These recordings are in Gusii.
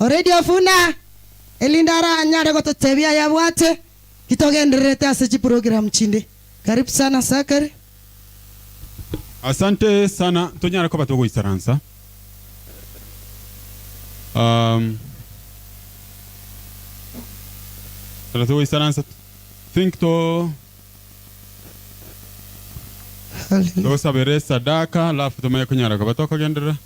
Already ofuna, erinde aranyare gototebia ayabwate, titogendererete ase chiprogram chinde. Karibu sana Zachary. Asante sana tonyare koba togoisaransa um ekero togoisaransa think to Hallelujah. togosabera esadaka alafu tomanye konyara koba tokogenderera.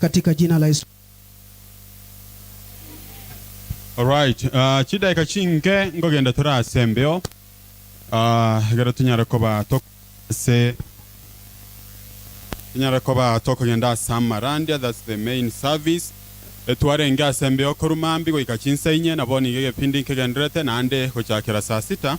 katika jina la Yesu. Alright, ah, chidaika chinke ngogenda tore ase embeo ah, egero tunyare koba tok- ase tunyare koba tokogenda ase amarandia that's the main service etwarenge ase embeo korwa mambia goika chinsa inye nabo nigo egepindi nkegenderete naende gochakera saa sita